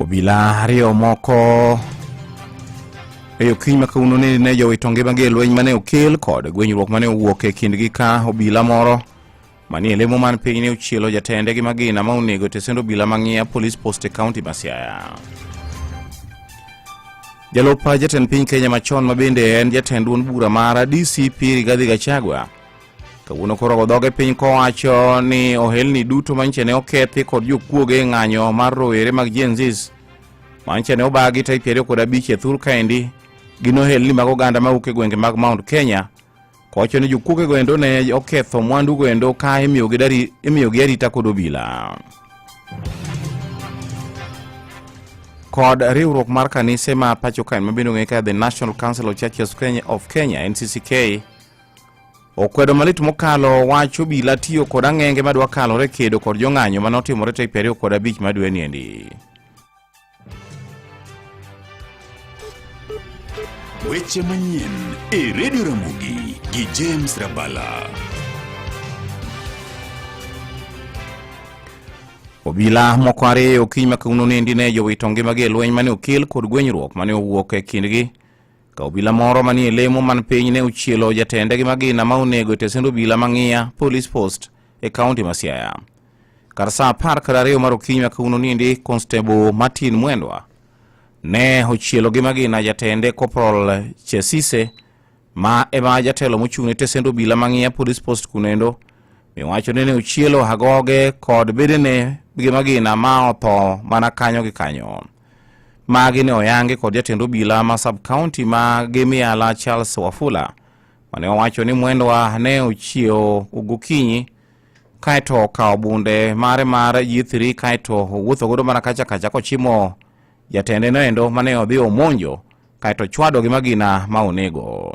Obila ariyo moko e okinyi ma kawuono ni ne jowito ngimagi e lweny mane okel kod gwenyruok mane owuok e kindgi ka obila moro manie lemo man piny ne ochielo jatende gi magina ma onego tesend obila mang'iya police post e kaunti ma Siaya. Jalup jatend piny Kenya machon ma bende en jatend duond bura mar DCP Rigathi Gachagua kawuono koro godhog e piny kowacho ni ohelni duto manyiche ne okethi kod jokuoge e ng'anyo mar rowere mag jenzis manyiche ne obagi tarik piero kod abich e thur kaendi gin ohelni mag oganda mawuok e gwenge mag mount kenya kowacho ni jokuoge goendo ne oketho mwandu goendo ka imiyogi arita kod obila kod riwruok mar kanise ma pacho kaen mabendo ng'e ka the national council of churches of kenya nccka Okwedo malit mokalo wach obila tiyo kod ang'enge madwa kalore kedo kod jong'anyo mane otimore tarik piero kod abich madwe niendi. Weche manyien e redio Ramogi gi James Rabala. Obila moko ariyo okinyi ma kawuono nendi ne jowito ngimagi e lweny mane okel kod gwenyruok mane owuok e kindgi Ka obila moro manie lemo man piny ne ochielo jatende gi magina ma onego e tesend obila mang'iya Police Post e kaunti ma Siaya. Kar saa apar kar ariyo mar okinyi ma kawuono nindi, Constable Martin Mwendwa ne ochielo gi magina jatende Corporal Chesise ma ema jatelo mochung' ne tesend obila mang'iya Police Post kunendo miwacho ni ne ochielo agoge kod bedene gi magina ma otho mana kanyo gi kanyo. Magi ne oyangi kod jatend obila ma sub county ma Gimiala Charles Wafula mane owacho ni Mwendwa ne ochiewo gokinyi kaeto okawo bunde mare mar G3 kaeto owuotho godo mana kacha kacha kochimo jatende noendo mane odhi omonjo kaeto chwado gi magina ma onego.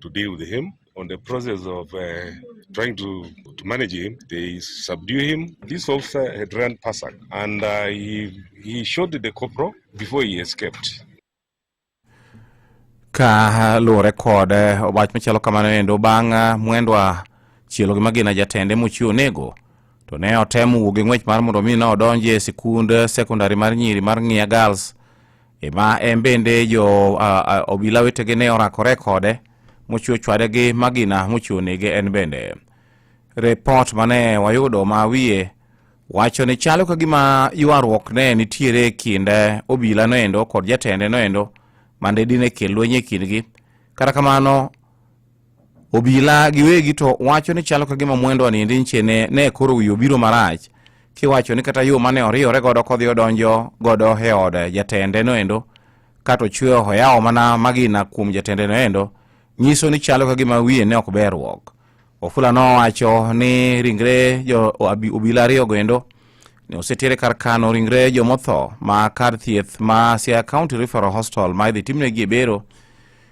to deal with him. On the process of uh, trying to, to manage him, they subdue him. This officer had run Pasak and uh, he, he shot the corporal before he escaped. Ka luwore kod eh, wach machalo kamano endo bang' eh, mwendwa chielo gi magina jatende mochiwo nego to ne otemo wuok gi ng'wech mar mondo mi ne odonji e sikund eh, sekondari mar nyiri mar Ng'iya Girls E ma en bende jo a- a- obila wetege ne orakore kode mochiwo chwade gi magina mochiwo nege en bende repot mane wayudo ma wiye wacho ni chalo ka gima ywaruok ne nitiere e kind eh, obila noendo kod jatende noendo mande dine kel lweny e kindgi kata kamano Obila giwegi to wacho ni chalo ka gima mwendo anindi nche ne, ne koro wiyo biro marach kiwacho ni kata yo mane oriyore godo kodhi odonjo godo e od jatende noendo kato chweyo hoyawo mana magina kuom jatende noendo nyiso ni chalo ka gima wiye ne ok berruok ofula nowacho ni ringre jo obila ariyo goendo ne osetiere kar kano ringre jomotho ma kar thieth ma sia county referal hostal ma idhi timnegi e bero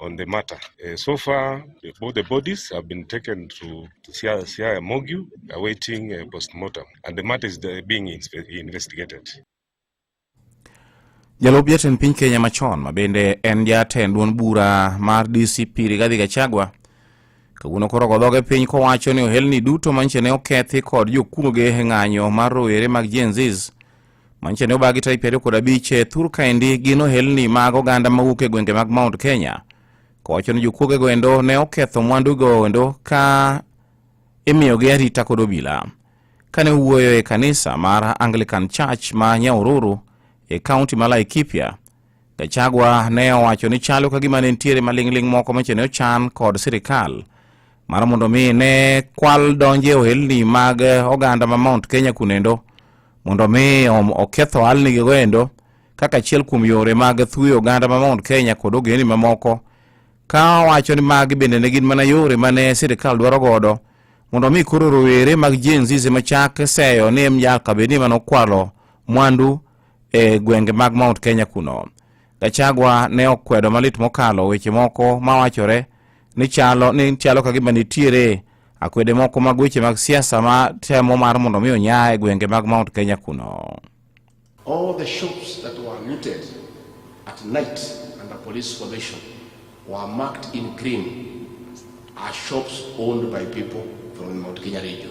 on the matter. Uh, so far, both the bodies have been taken to, to Siaya, Siaya Mogu, awaiting uh, postmortem, and the matter is the, being investigated. Jalup jatend piny Kenya machon ma bende en jatend duond bura mar DCP Rigathi Gachagua kawuono koro godhoge piny kowacho ni ohelni duto manche ne okethi kod jokuoge e ng'anyo mar rowere mag Gen Zs Manyiso ni obagi tarik piero kod abich e thur kaendi gin ohelni mag oganda mawuok e gwenge mag Mount Kenya kowacho ni jokuogego endo ne oketho mwandugo endo ka imiyogi arita kod obila kane owuoyo e kanisa mar Anglican Church ma Nyaururu e kaunti ma Laikipia Gachagua ne owacho ni chalo ka gima ne nitiere maling'ling' moko mache ne ochan kod sirikal mar mondo mi ne kwal donje e ohelni mag oganda ma Mount Kenya kunendo mondo mi oketh ohalnigigo endo kaka achiel kuom yore mag thuyo oganda ma Mount Kenya kod ogendni mamoko ka owacho ni magi bende ne gin mana yore mane sirikal dwaro godo mondo mi koro rowere mag Gen Z machak seyo ni mjaka bedni manokwalo mwandu e gwenge mag Mount Kenya kuno. Gachagua ne okwedo malit mokalo weche moko mawachore ni chalo ni chalo ka gima nitiere akwede moko mag weche mag siasa ma temo mar mondo mi onya e gwenge mag Mount Kenya kuno. All the shops that were looted at night under police supervision were marked in green are shops owned by people from Mount Kenya region.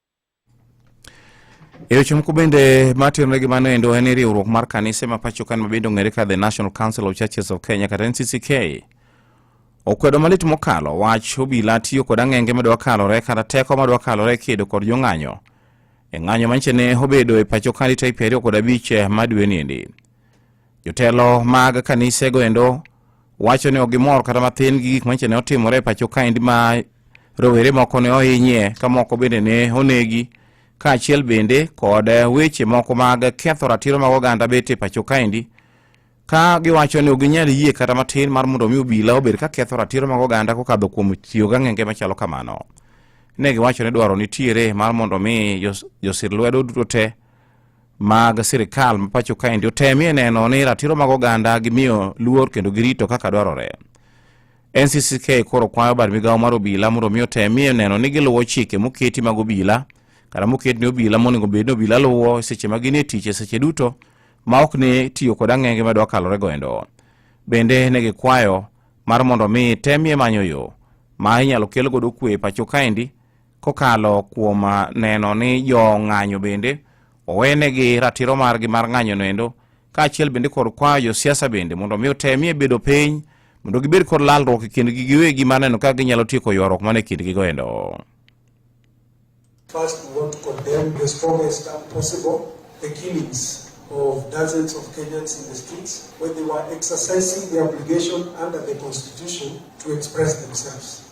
E weche moko bende matenore gi mano endo en ni riwruok mar kanise ma pacho kan mabende ong'ere ka the National Council of Churches of Kenya kata NCCK okwedo malit mokalo wach obila tiyo kod ang'enge madwa kalore kata teko madwa kalore e kedo kod jong'anyo e ng'anyo manyicha ne obedo e pacho ka ni tarik piero ariyo kod abich eh, ma dwe niendi. Jotelo mag kanisego endo wacho ni ok gimor kata mathin gi gik manyicha ne otimore e pacho kaendi ma rowere moko ne ohinyie ka moko bende ne onegi kaachiel bende kod weche moko mag ketho ratiro mag oganda bet e pacho kaendi ka giwacho ni ok ginyal yie kata matin mar mondo omi obila obed ka ketho ratiro mag oganda kokadho kuom tiyo gang'enge machalo kamano ne giwacho ni dwaro nitiere mar mondo omi josir lwedo duto te mag sirikal ma pacho kaendi otemie neno ni ratiro mag oganda gimiyo luor kendo girito kaka dwarore. NCCK koro kwayo bad migawo mar obila mondo mi otemie neno ni giluwo chike moketi mag obila kata moket ni obila monego bed ni obila luwo seche ma gin e tich e seche duto ma ok ni tiyo kod ang'enge ma dwa kalore goendo. Bende ne gikwayo mar mondo mi temie manyo yo ma inyalo kel godo kwe pacho kaendi kokalo kuom ah, neno ni jo ng'anyo bende owenegi ratiro margi mar ng'anyo noendo kaachiel bende kod kwayo josiasa bende mondo mi otemie bedo piny mondo gibed kod lalruok e kindgi giwegi mar neno kaka ginyalo tieko ywaruok man e kindgi goendo First, we want to condemn the strongest term possible the killings of dozens of Kenyans in the streets when they were exercising their obligation under the Constitution to express themselves.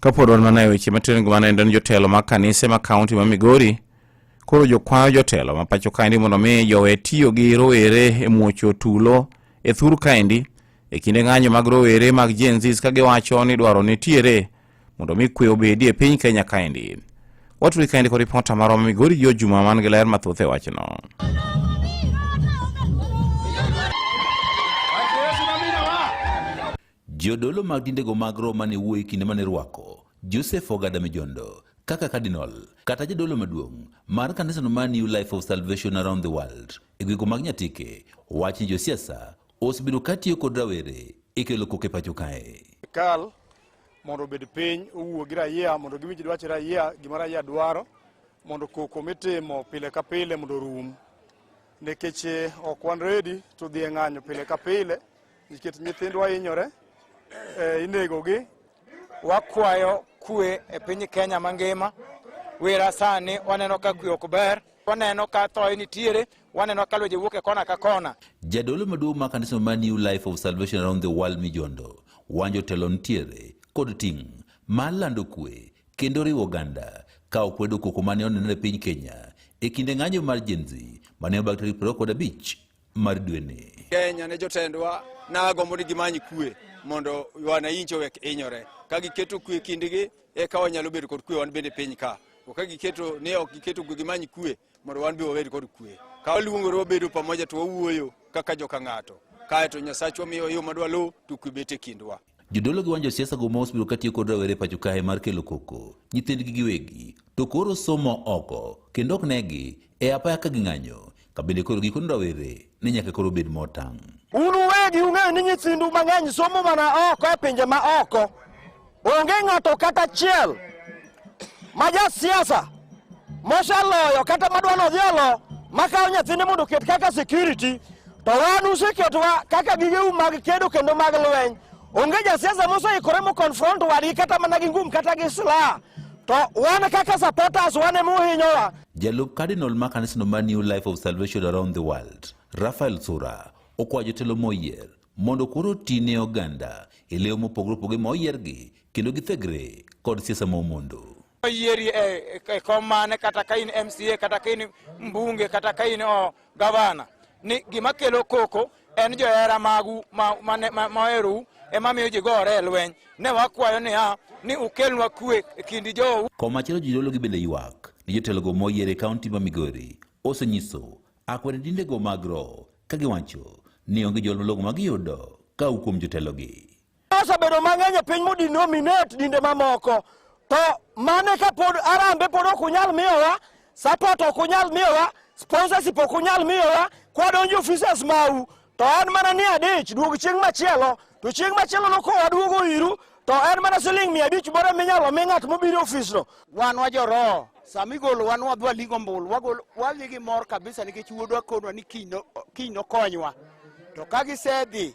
Kapod wan mana e weche matiren gimana endo ni jotelo mag kanise ma kaunti ma Migori koro jokwayo jotelo ma pacho kaendi mondo mi jowe tiyo gi rowere e muocho tulo e thur kaendi e kinde ng'anyo mag rowere mag Gen Z ka giwacho ni dwaro nitiere mondo mi kwe obedi e piny Kenya kaendi. Waturi kaendi kod ripota marwa ma Migori jo juma man gi ler mathoth e wachno. Jodolo mag dindego mag Roma ne wuoyo e kinde mane rwako Joseph Ogada Mijondo kaka cardinal kata jadolo maduong' mar kanisano mar New Life of Salvation Around the World e gwego mag Nyatike wach ni josiasa osebedo katiyo kod rawere e kelo koke pacho kae. Kal mondo obed piny owuo gi raia mondo giwinj dwach raia gima raia dwaro mondo koko mitimo pile ka pile mondo orum nikech eh, ok wan redi to dhi e ng'anyo pile ka pile Nikech nyithindwa hinyore, eh, inegogi. Wakwayo kwe e piny Kenya mangima. Wera sani waneno ka kwe ok ber, waneno ka thoye nitiere, waneno ka lwenje wuok e kona ka kona. Jadolo maduong' ma kanisa ma New Life of Salvation Around the World Mijondo wanjo telo nitiere kod ting' mar lando kwe kendo riwo oganda ka okwedo koko mane onenore e piny Kenya e kinde ng'anjo mar Gen Z mane obak tarik 25 mar dweni. Kenya ne jotendwa nagombo ni gimany kwe mondo wananchi owek hinyore. Ka giketo kwe kindgi eka wanyalo bedo kod kwe wan bende piny ka. To ka giketo ni ok giketo kwe gimany kwe mondo wan be wabed kod kwe. Ka waluongore wabedo pamoja to wawuoyo kaka joka ng'ato. Kae to Nyasachwa miyo yo madwa luw to kwe bet e kindwa. Jodolo gi wan josiasa go mos biro katiyo kod rawere pacho kae mar kelo koko nyithindgi giwegi to koro somo oko kendo ok negi e apaya ka ging'anyo kabende koro gikoni rawere ni nyaka koro bed motang'. Un uwegi ung'eyo ni nyithindu mang'eny somo mana oko e pinje ma oko. Onge ng'ato kata achiel Maja siasa mosaloyo kata madwa nodhialo makawo nyathine mondo oket kaka security to wan useketwa kaka gigeu mag kedo kendo mag lweny onge jasiasa moseikore moconfront wadgi kata mana gi ngum kata gi silaha to wan kaka supporters wan ema uhinyowa jalup cardinal ma kanisno ma new life of salvation around the world rafael sura okwayo jotelo moyier mondo koro oti ne oganda e leyo mopogore opogore ma oyiergi kendo githegre kod siasa ma omondo. Yieri e, e kom mane kata ka in MCA kata ka in mbunge kata ka in oh, gavana ni gima kelo koko en johera magu maherou ema miyo ji gore e lweny ne wakwayo niya ni ukelnwa kwe e kindi jou. Komachielo jodolo gi bende ywak ni jotelogo moyier e kaunti ma Migori osenyiso akwede dindego mag roho ka giwacho ni onge jol malong'o ma giyudo ka kuom jotelogi. Osebedo mang'eny e piny modinominate dinde mamoko, to mane ka pod arambe pod ok unyal miyowa support, ok unyal miyowa sponsorship, ok unyal miyowa kwadonjo offices mau, to en mana ni adich duog chieng' machielo, to chieng' machielo no kowa duogo iru to en mana siling' mia abich moro minyalo mi ng'at mobiro ofisno. Wan wajoroho sama igolo wan wadhi waling' ombulu wadhi gi mor kabisa nikech wuodwa konwa ni kiny nokonywa to ka gisedhi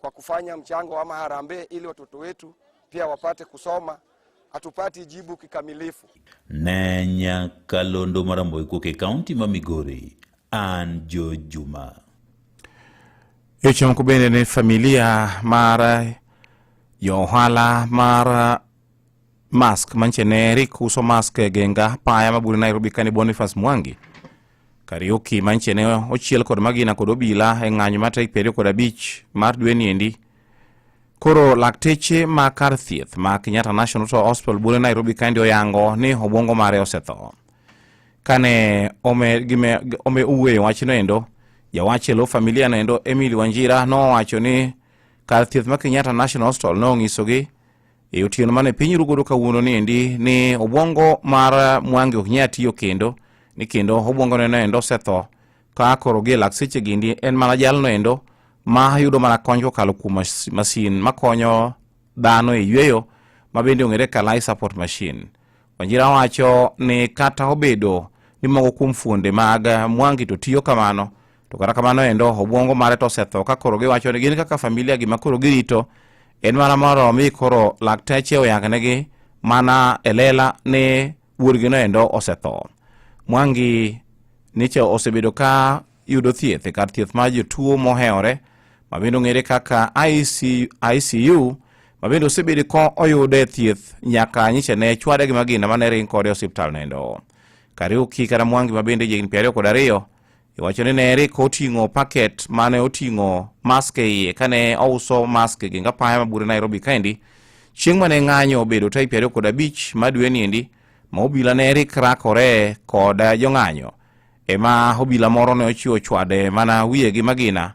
kwa kufanya mchango ama harambee ili watoto wetu pia wapate kusoma. Hatupati jibu kikamilifu. Ne Nyakalondo Maramboi kuok e kaunti ma Migori, an Jo Juma. Yochomko bende ne familia mar jo ohala mar Mask manche ne Eric uso mask e genga paya mabure Nairobi kani Boniface Mwangi Kariuki manche ne ochiel kod magina kod obila e ng'anyo mar tarik piero kod abich mar dweni endi koro lakteche ma kar thieth ma Kenyatta National to Hospital bure Nairobi kandi oyango ni obwongo mare osetho kane ome gime ome uwe wachno endo jawach e lo familia no endo Emily Wanjira nowacho ni kar thieth ma Kenyatta National Hospital nong'isogi no E otieno mane piny rugodo kawuono ni endi ni obwongo mar Mwangi ok nyal tiyo kendo ni kendo obwongo neno endo osetho ka koro gi lak seche gindi en mana jalno endo ma yudo mana kony kokalo kuom masin makonyo dhano e yueyo ma bende ong'ere ka life support machine. Wanjira wacho ni kata obedo ni moko kuom fuonde mag Mwangi to tiyo kamano to kata kamano endo obwongo mare to osetho ka koro giwacho ni gin kaka familia gima koro girito en mana moro mi koro lakteche oyangnegi mana e lela ni wuorgino endo osetho mwangi niche osebedo ka yudo thieth e kar thieth mar jotuo mohewore mabende ong'ere kaka icu mabende osebedo ka oyude thieth nyaka nyiche ne chwade gi magina mane ring kode e osiptal nendo kariuki kata mwangi mabende jigni piero ariyo kod ariyo Iwacho ni ne Eric oting'o paket mane oting'o mask e iye kane ouso mask e gengapaya ma bure Nairobi kaendi chieng' mane ng'anyo obedo type ariyo kod abich ma dwe niendi ma obila ne Eric rakore kod jong'anyo ema obila moro ne ochiwo chwade mana wiye gi magina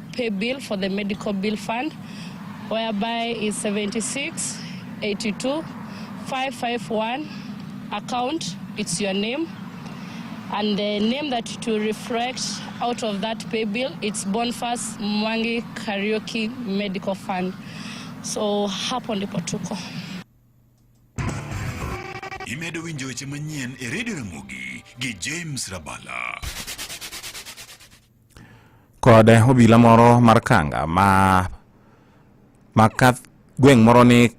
pay bill for the medical bill fund whereby is 76 82 551 account it's your name and the name that to reflect out of that pay bill it's Bonfas Mwangi Karaoke Medical Fund so hapo ndipo tuko imedo winjo weche manyien e redio ramogi gi James Rabala kod obila moro mar Kanga ma ma gweng' moro ni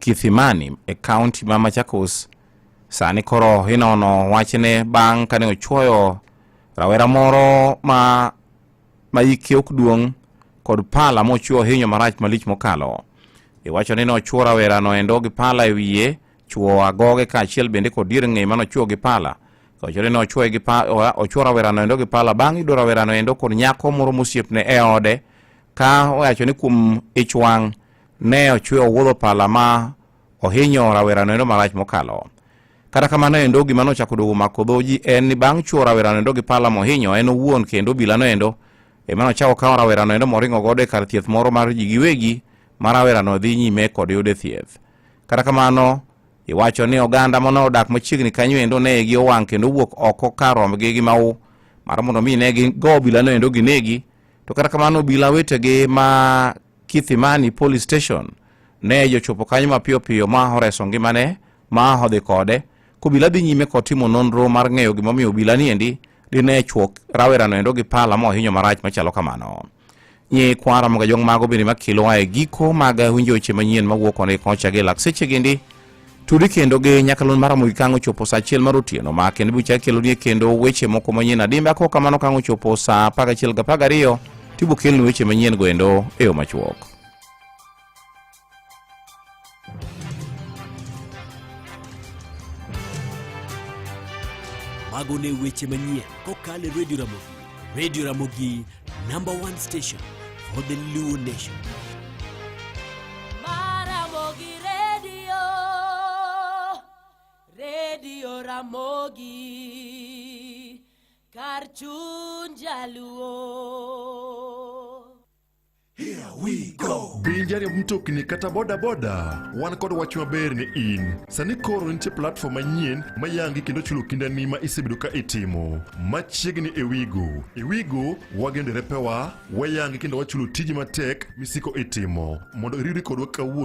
Kithimani e kaunti ma Machakos sani koro inono wachne bang' kane ochwoyo rawera moro ma ma hike ok duong' kod pala mochwo ohinyo marach malich mokalo. Iwacho ni nochwo rawerano endo gi pala e wiye Chwo agoge kaachiel bende kod dier ng'e mano chwo gi pala. Kawachore ni ochwoye gi pa, oa- ochwo rawerano endo gi pala bang' yudo rawerano endo kod nyako moro mosiepne e ode ka owacho ni kuom ich wang' ne ochwe owuodho pala ma ohinyo rawerano endo marach mokalo. Kata kamano endo gima nochako dogo mako dhoji en ni bang' chwo rawerano endo gi pala mohinyo en owuon kendo bilano endo ema nochako kawo rawerano endo moringo godo e kar thieth moro mar ji giwegi ma rawerano dhi nyime kod yude thieth. Kata kamano, iwacho ni oganda mane odak machiegni kanyo endo ne gi owang' kendo owuok oko kar rombgi gi mau mar mondo mi ne gigo obilano endo ginegi to kata kamano obila wetegi ma Kithimani Police Station ne jochopo kanyo mapiyo piyo ma oreso ngimane ma odhi kode kobila dhi nyime kod timo nonro mar ng'eyo gimomiyo obila ni endi dine chwok rawerano endo gi pala mohinyo marach machalo kamano nyi kwara moga jong mago bende makilowa e giko mag winjo weche manyien mawuok one kocha gi lakseche gindi tudi kendo gi nyakalon mara mogi kango chopo sa achiel mar otieno ma kendo bucha kelo nie kendo weche moko manyien adimbe ako kamano kango chopo sa apar achiel ga apar gariyo tibo kelni weche manyien go endo e yo machuok Mago ne weche manyien kokalo e Radio Ramogi. Radio Ramogi, number one station for the Luo Nation. Maramogi Radio, Radio Ramogi, Karchunjaluo. Here we go. Piny jariemb mtokni kata bodaboda, wan kod wach maber ni in. Sani koro nitie platform manyien mayangi kendo chulo kindani ma isebedo ka itimo. Machiegni e Wigo. E Wigo, wageno derepewa, wayangi kendo wachulo tiji matek misiko itimo. Mondo iriri kodwa kawuono